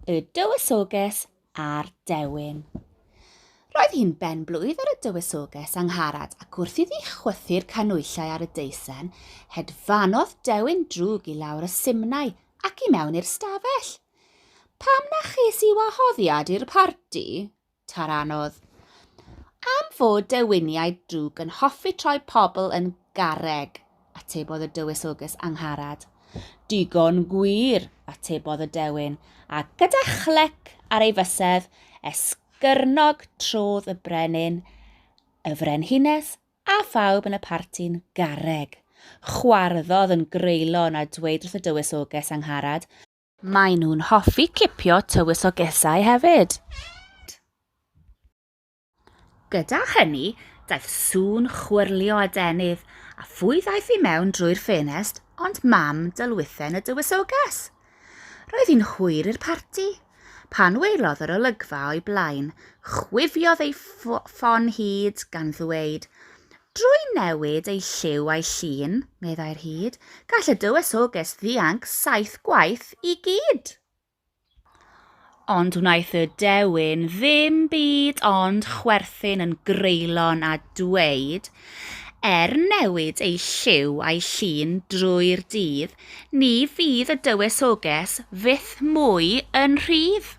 Y Dywysoges a'r Dewin. Roedd hi'n ben blwydd ar y dywysoges angharad ac wrth iddi chwythu'r canwyllau ar y deisen, hedfanodd dewin drwg i lawr y simnau ac i mewn i'r stafell. Pam na ches i wahoddiad i'r parti? Ta'r anodd. Am fod dewiniaid drwg yn hoffi troi pobl yn garreg, atebodd y dywysoges Angharad. Digon gwir, atebodd y dewin, a gyda chlec ar ei fysedd, esgyrnog trodd y brenin, y frenhines, a phawb yn y parti'n garreg. Chwarddodd yn greulon a dweud wrth y dywysoges Angharad Maen nhw'n hoffi cipio tywysogesau hefyd. Gyda hynny, daeth sŵn chwyrlio a denydd, a phwy ddaeth i mewn drwy'r ffenest ond mam dylwythen y dywysoges. Roedd hi'n hwyr i'r parti. Pan welodd yr olygfa o'i blaen, chwifiodd ei ffon hyd gan ddweud, Drwy newid ei lliw a'i llun, meddai'r hud, gall y dywysoges ddianc saith gwaith i gyd. Ond wnaeth y dewin ddim byd ond chwerthin yn greulon a dweud, Er newid ei lliw a'i llun drwy'r dydd, ni fydd y dywysoges fyth mwy yn rhydd.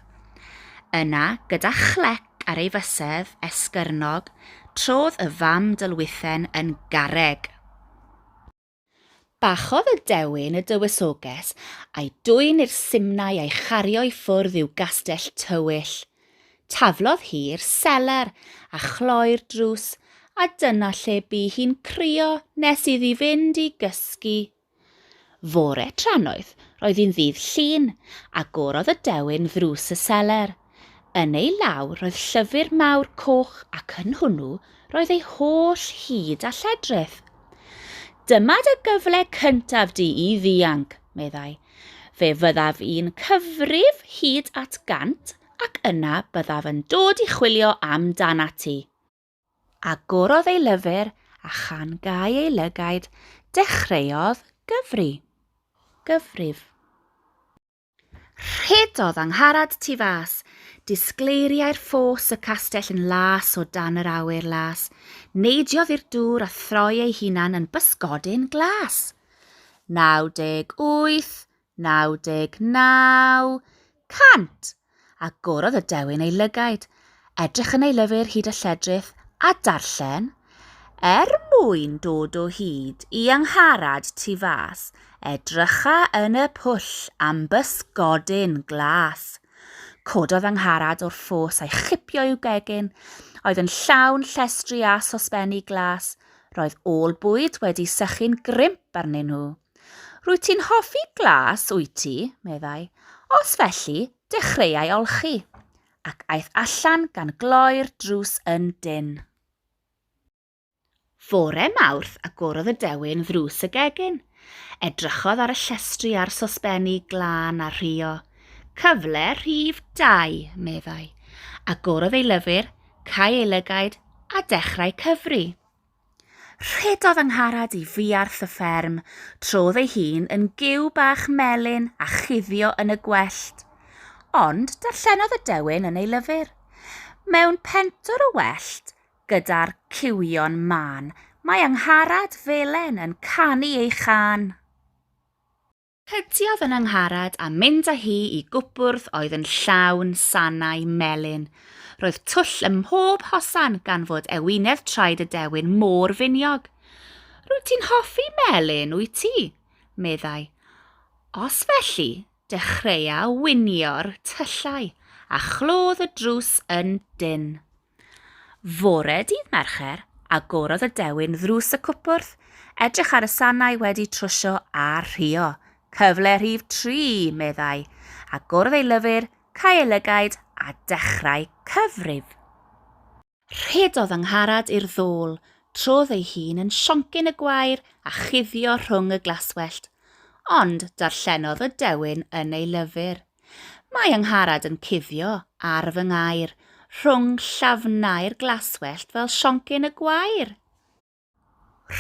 Yna, gyda chlec, ar ei fysedd esgyrnog, trodd y fam dylwythen yn garreg. Bachodd y dewin y dywysoges, a'i dwyn i'r simnai a'i chario i ffwrdd i'w gastell tywyll. Taflodd hi'r seler, a chloi'r drws, a dyna lle bu hi'n crio nes iddi fynd i gysgu. Fore trannoeth, roedd hi'n ddydd Llun, agorodd y dewin ddrws y seler. Yn ei law roedd llyfr mawr coch ac yn hwnnw roedd ei holl hud a lledrith. Dyma dy gyfle cyntaf di i ddianc, meddai. Fe fyddaf i'n cyfrif hyd at gant ac yna byddaf yn dod i chwilio am danat ti. Agorodd ei lyfr a chan gau ei lygaid, dechreuodd gyfri. Gyfrif. Rhedodd Angharad tu fas. Disgleiriai'r ffos y castell yn las o dan yr awyr las. Neidiodd i'r dŵr a throi ei hunan yn bysgodyn glas. 98, 99 cant! Agorodd y dewin ei lygaid, edrych yn ei lyfr hyd a lledrith, a darllen, Er mwyn dod o hyd i Angharad tu fas, edrycha yn y pwll am bysgodyn glas. Cododd Angharad o'r ffos a'i chipio i'w gegin, oedd yn llawn llestri a sosbenni glas, roedd ôl bwyd wedi sychu'n grimp arnyn nhw. Rwyt ti'n hoffi glas, wyt ti? meddai. Os felly, dechreuai olchi, ac aeth allan gan gloi'r drws yn dyn. Fore Mawrth agorodd y dewin ddrws y gegin. Edrychodd ar y llestri a'r sosbenni glân a rhio. Cyfle rhif dau, meddai. Agorodd ei lyfr, cau ei lygaid, a dechrau cyfri. Rhedodd Angharad i fuarth y fferm, trodd ei hun yn giw bach melyn a chuddio yn y gwellt. Ond darllenodd y dewin yn ei lyfr. Mewn pentwr y wellt, gyda'r ciwio'n mân, mae Angharad Felen yn canu ei chân. Cydiodd yn Angharad a mynd â hi i gwpwrdd oedd yn llawn sanau melyn. Roedd twll ym mhob hosan gan fod ewinedd traed y dewin mor finiog. Rwyt ti'n hoffi melyn, wyt ti? meddai. Os felly, dechreuau winio'r tyllau, a chlodd y drws yn dynn. Fore dydd Mercher, agorodd y dewin ddrws y cwpwrdd, edrych ar y sanau wedi trwsio a rhuo. Cyfle rhif tri, meddai, agorodd ei lyfr, cau ei lygaid a dechrau cyfrif. Rhedodd Angharad i'r ddôl, trodd ei hun yn sioncyn y gwair a chuddio rhwng y glaswellt. Ond darllenodd y dewin yn ei lyfr. Mae Angharad yn cuddio ar fy ngair, rhwng llafnau'r glaswellt fel sioncyn y gwair.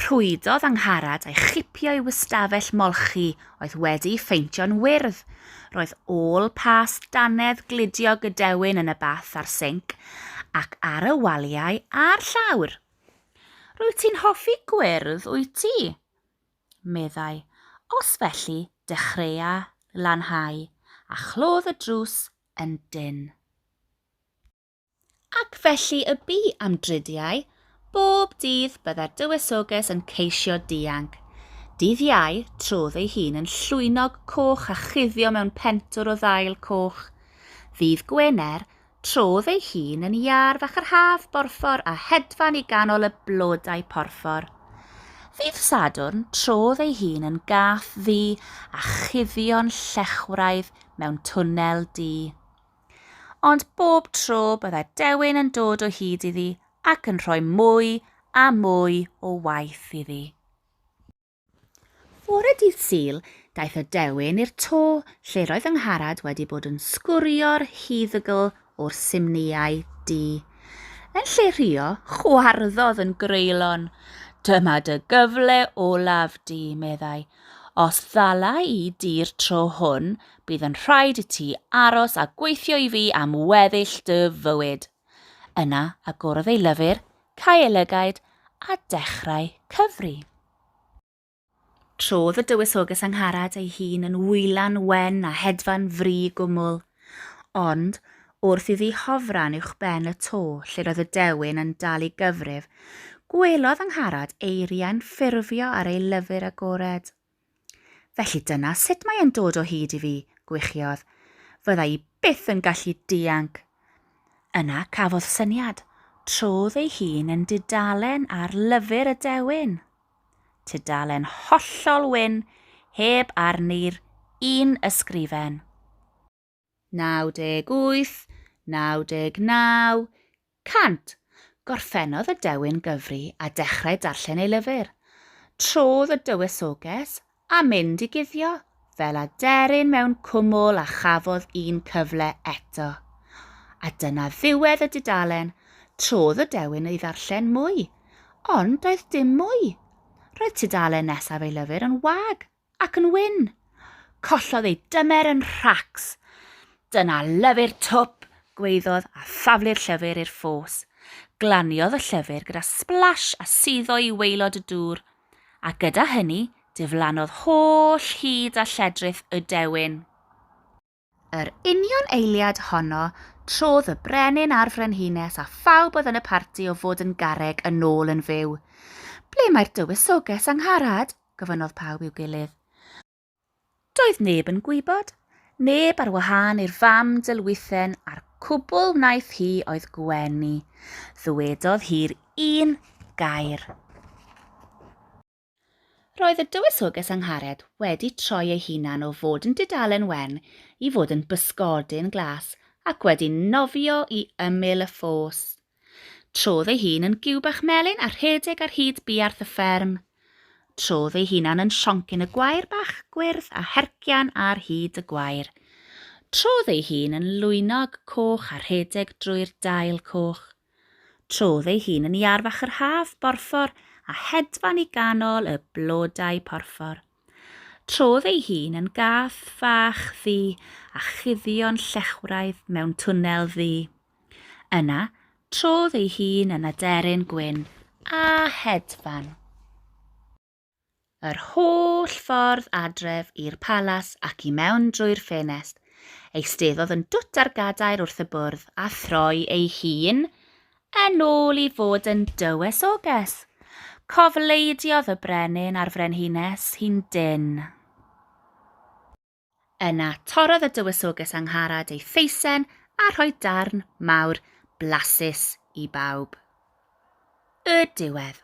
Rhwydodd Angharad a'i chipio i'w ystafell molchi oedd wedi'i pheintio'n wyrdd. Roedd ôl pas dannedd glidio Gadewin yn y bath a'r sinc, ac ar y waliau a'r llawr. Rwyt ti'n hoffi gwyrdd, wyt ti? meddai, os felly dechreua lanhau, a chlodd y drws yn dynn. Ac felly y bu am dridiau, bob dydd bydda'r dywysoges yn ceisio dianc. Dydd Iau, trodd ei hun yn llwynog coch a chuddio mewn pentwr o ddail coch. Ddydd Gwener, Trodd ei hun yn iâr fach yr haf borffor a hedfan i ganol y blodau porffor. Ddydd Sadwrn, trodd ei hun yn gath ddu a chuddio'n llechwraidd mewn twnnel du. Ond bob tro bydda dewin yn dod o hyd iddi ac yn rhoi mwy a mwy o waith iddi. Fore dydd Sul, daeth y dewin i'r to lle roedd fy ngharad wedi bod yn sgwrio'r huddygl o'r simnïau du. Yn lle rhio, chwarddodd yn greulon. Dyma dy gyfle olaf di, meddai. Os ddala i di'r tro hwn, bydd yn rhaid i ti aros a gweithio i fi am weddill dy fywyd. Yna agorodd ei lyfr, cau ei lygaid, a dechrau cyfri. Trodd y dywysoges Angharad ei hun yn wylan wen a hedfan fri gwmwl. Ond, wrth iddi hofran uwchben y to lle roedd y dewin yn dal i gyfrif, gwelodd Angharad eiriau'n ffurfio ar ei lyfr agored. Felly dyna sut mae e'n dod o hyd i fi, gwichiodd. Fydda i byth yn gallu dianc. Yna cafodd syniad, trodd ei hun yn dudalen ar lyfr y dewin. Tudalen hollol wyn, heb arni'r un ysgrifen. 98, 99, 100. Gorffennodd y dewin gyfri a dechrau darllen ei lyfr. Trodd y dywysoges a mynd i guddio, fel aderyn mewn cwmwl a chafodd un cyfle eto. A dyna ddiwedd y dudalen, trodd y dewin i ddarllen mwy, ond doedd dim mwy. Roedd tudalen nesaf ei lyfr yn wag Ac yn wyn. Collodd ei dymer yn rhacs. Dyna lyfr twp, gweiddodd a thaflu'r llyfr i'r ffos. Glaniodd y llyfr gyda splash a suddo i waelod y dŵr, a gyda hynny diflannodd holl hyd a lledrith y dewin. Yr union eiliad honno, trodd y brenin a'r frenhines a phawb oedd yn y parti o fod yn garreg yn ôl yn fyw. Ble mae'r dywysoges, Angharad? gofynnodd pawb i'w gilydd. Doedd neb yn gwybod, neb ar wahân i'r fam dylwythen a'r cwbl wnaeth hi oedd gwenu. Ddywedodd hi'r un gair. Roedd y Dywysoges Angharad wedi troi ei hunan o fod yn dudalen wen i fod yn bysgodyn glas ac wedi nofio i ymyl y ffos. Trodd ei hun yn giw bach melyn a rhedeg ar hyd buarth y fferm. Trodd ei hunan yn sioncyn y gwair bach gwyrdd a hercian ar hyd y gwair. Trodd ei hun yn lwynog coch a rhedeg drwy'r dail coch. Trodd ei hun yn iar fach yr haf borffor a hedfan i ganol y blodau porffor. Trodd ei hun yn gath fach ddu a chuddio'n llechwraidd mewn twnnel ddu. Yna, trodd ei hun yn aderyn gwyn a hedfan. Yr holl ffordd adref i'r palas ac i mewn drwy'r ffenest, eisteddodd yn dwt ar gadair wrth y bwrdd a throi ei hun yn ôl i fod yn dywysoges. Cofleidiodd y brenin a'r frenhines hi'n dynn. Yna torrodd y dywysoges Angharad ei theisen a rhoi darn mawr blasus i bawb. Y diwedd.